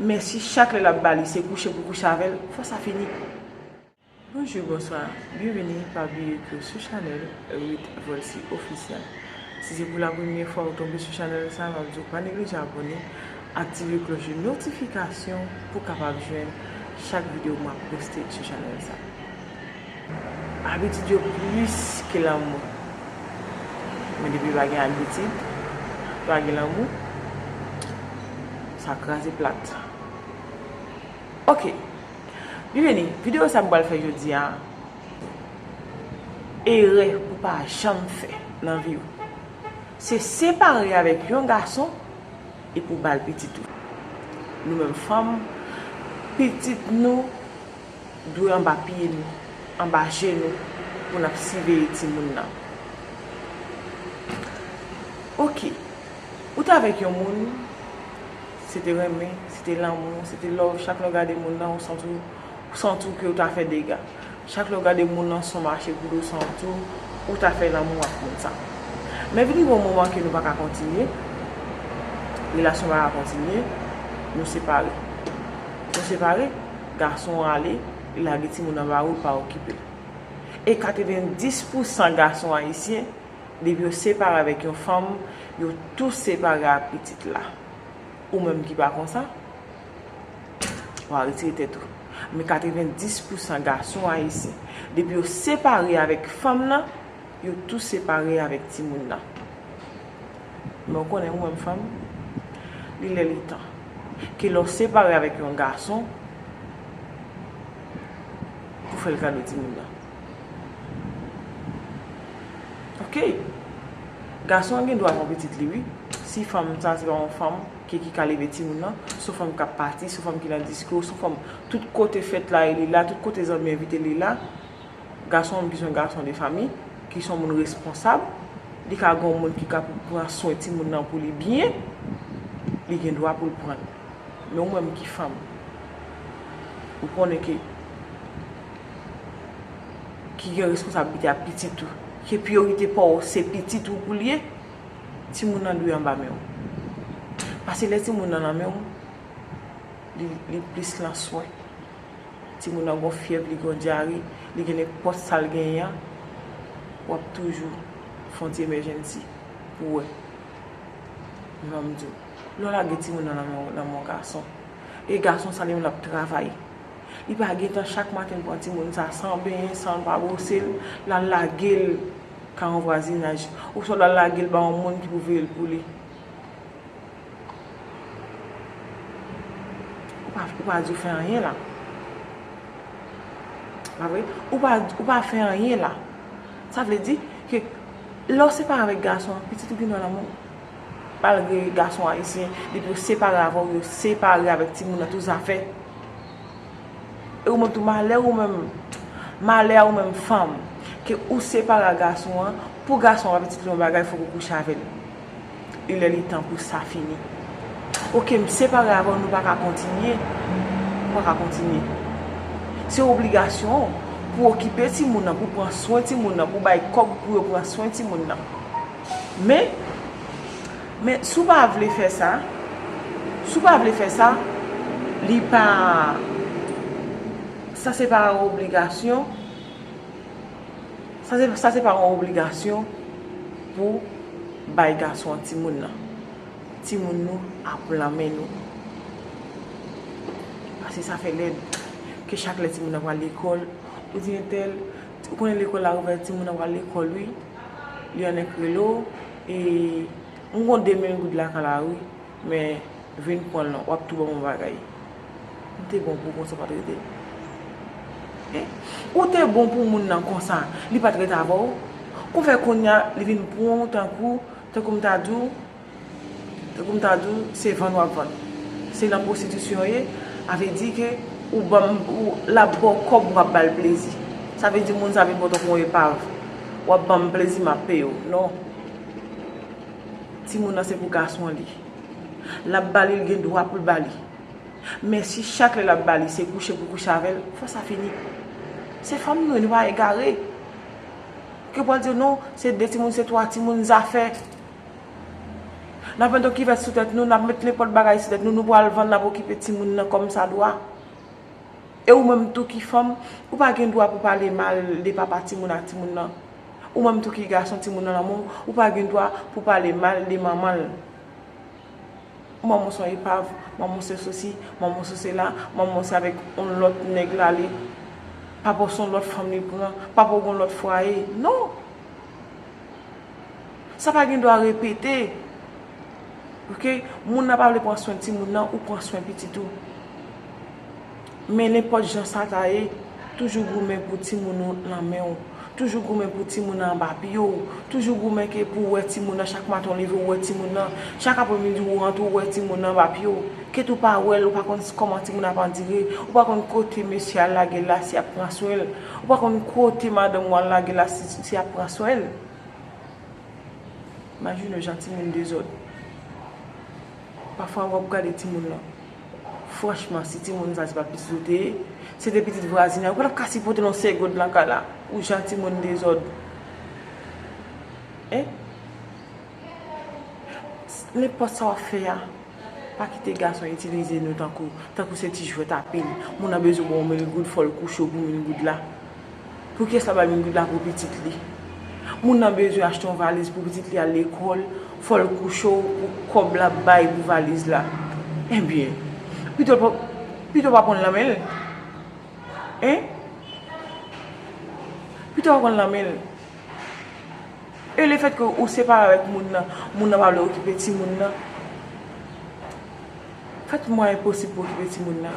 Men si chak lè lap bali se kouche pou kouche avèl fwa sa fini. Bonjou bonswa byenvini pa bliye ke sou chanèl Ruth Volcy officiel si se pou la premye fwa ou tonbe sou chanèl sa map diw pa neglije abòne aktive klòch de notifikasyon pou kapab jwenn chak video map poste sou chanèl sa. Abitid yo plis ke lanmou. Men depi pa gen abitid, pa gen lanmou, sa kraze plat. Ok, li vini, videyo sa m pral fè jodi a, erè pou pa janm fè nan vi w, se separe avèk yon gason epi w ba l pitit ou. Nou menm fanm, pitit nou. dwe anba pye nou, anba je nou pou n ap siveye timoun nan. Ok, ou t avèk yon moun, se te renmen, se te lanmou, se te love, chak lè w gade moun nan ou santi w, ou santi w ke ou ta fè dega. Chak lè w gade moun nan son mache pou dou santi w, ou ta fè lanmou ak moun sa. Men vin rive yon moman ke nou pa ka kontinye, relasyon pa ka kontinye, nou separe. Nou separe. Gason rale, li lage timoun anba wout pa okipe. E 90 pou san gason ayisyen, depi yo separe avèk yon fanm, yo tou separe ak pitit la. Ou menm ki pa konsa, wa retire tèt ou. Men 90 pou san gason ayisyen, depi yo separe avèk fanm nan, Yo tou separe avèk timoun nan. Men w konnen ou menm fanm, li lè li tan. Ke lè w separe avèk yon gason, pou fè l kado timoun nan. Ok! Gason an gen dwa pran pitit li wi, si fanm sa se pa yon fanm ke ki ka leve timoun nan, son fanm k ap pati, son fanm ki nan disko, son fanm tout kote fèt la e li la, tout kote zanmi envite li la. Gason an bizwen gason de fami, ki son moun responsab, li ka gon moun ki ka pou pran swen ti moun nan pou li byen, li gen dwa pou l pran l. Men ou menm ki fanm, ou konnen ke, ki gen responsabilite ap pitit ou, ke priyorite pa w se pitit ou pou l ye, ti moun nan dwe anba men w. Pase lè ti moun nan nan men w, li plis lan swen. Timoun nan gon fyèv li gon dyare li gen nenpòt sal genyen an wap toujou fon ti emèjènsi pou wè men banm diw lèw lage timoun nan nan men yon gason e gason sa li menm lap travay li pa gentan chak maten pran timoun sa san benyen sanl pa bwosel lal lagel ka yon vwazinaj oswa lal lagel ba yon moun ki pou veyel pou li. Ou pa di ou fè anyen la. Pa vre? Ou pa ou pa fè anyen la. Sa vle di ke lè w separe avèk gason an, pitit ou gen dwa nan men w. Malgre gason ayisyen, depi yo separe avè w, yo separe avèk timoun nan tou zafè. E ou menm tou malè ou menm, malè a ou menm fanm, ke ou separe a gason an, pou gason an pa pitit li yon bagay fòk ou kouche avè l. e lè li tan pou sa fini ok m separe avèw nou paka kontinye ou paka kontinye se obligasyon w pou okipe timoun nan pou pran swen timoun nan pou bay kòb pou yo pran swen timoun nan men men si w pa vle fè sa si w pa vle fè sa li pa sa se pa obligasyon. Sa se pa yon obligasyon pou bay gason an timoun nan. Timoun nou ap lan men nou. Pase sa fè lèd. Ke chak lè timoun nan pral lekòl, ou di entèl, ou konnen lekòl la ouvè, timoun nan pral lekòl wi. Li annik rele w, e m kon 2000 goud lakay la wi. Men vin pranl non wap tou banm on bagay Ou te bon pou konsa ou pat rete Ou te bon pou moun nan konsa li pat rete avèw Kon fè konnya li vin pranw tankou tankou m ta diw tankou m ta diw se vann wap vann se nan pwostitisyon ou ye a vle di ke ou banm lap baw kòb wap bal plezi sa vle di moun sa vin pran w tankou on epav wap banm plezi map peyew non. Timoun nan se pou gason li lap bali li gen dwa poul bali men si chak lè lap bali se kouche pou kouche avèl fò sa fini se fanm nou ye nou pa egare ke pwal di non se 2 timoun se 3 timoun zafè nap met yon kivèt sou tèt nou nap met nenpòt bagay sou tèt nou nou pwal vann nap okipe timoun nan kòm sa dwa. E ou menm tou ki fanm, ou pa gen dwa pou pale mal de papa timoun ak timoun nan. Ou menm tou ki gason timoun nan nan men w, ou pa gen dwa pou pale mal de manman l. Manman w se yon epav, manman w se sosi, manman w se sela, manman w se avèk yon lòt nèg l ale, papa w se yon lòt fanm li pran, papa w gen yon lòt fwaye. Non! Sa pa gen dwa repete. Ok, moun nan pa vle pran swen timoun nan, ou pran swen pitit ou. Men nenpòt jan sa ta ye, toujou goumen pou timoun ou nan men ou. Toujou goumen pou timoun nan anba pye ou. Toujou goumen ke pou ou wè timoun nan, chak maten ou leve ou wè timoun nan. Chak apremidi ou rantre ou wè timoun nan anba pye ou. Ket ou pa wè l, ou pa konn kòman timoun nan ap andire, ou pa konn kote mesye a lage l la si y ap pran swen l. Ou pa konn kote madanm ou al lage la si ti a pran swen l. Imajine jan timoun dezòd. Pafwa wap gade timoun lan. Franchman si timoun sa se pa pitit ou te ye, se te pitit vwazin nan, ou pa tap ka sipote non segond lan kay la. Ou jan timoun dezòd. Hein. Nenpòt sa wap fè a, pa kite gason itilize nou tankou, tankou se ti jwèt apil. Moun nan bezwen baw mil goud fòl kouche w pou mil goud la. Poukisa l pa bay mil goud la pou pitit li? Moun nan bezwen achte yon valiz pou pitit li al lekòl, fòl kouche w pou kòb lap bay pou valiz la. Ebyen, pito l pa, pito w pa pranl nan men l. Hein? Pito w pa pranl nan men l. E le fèt ke ou separe avèk moun nan, moun nan pa vle okipe timoun nan, fè tout mwayen posib pou okipe timoun nan.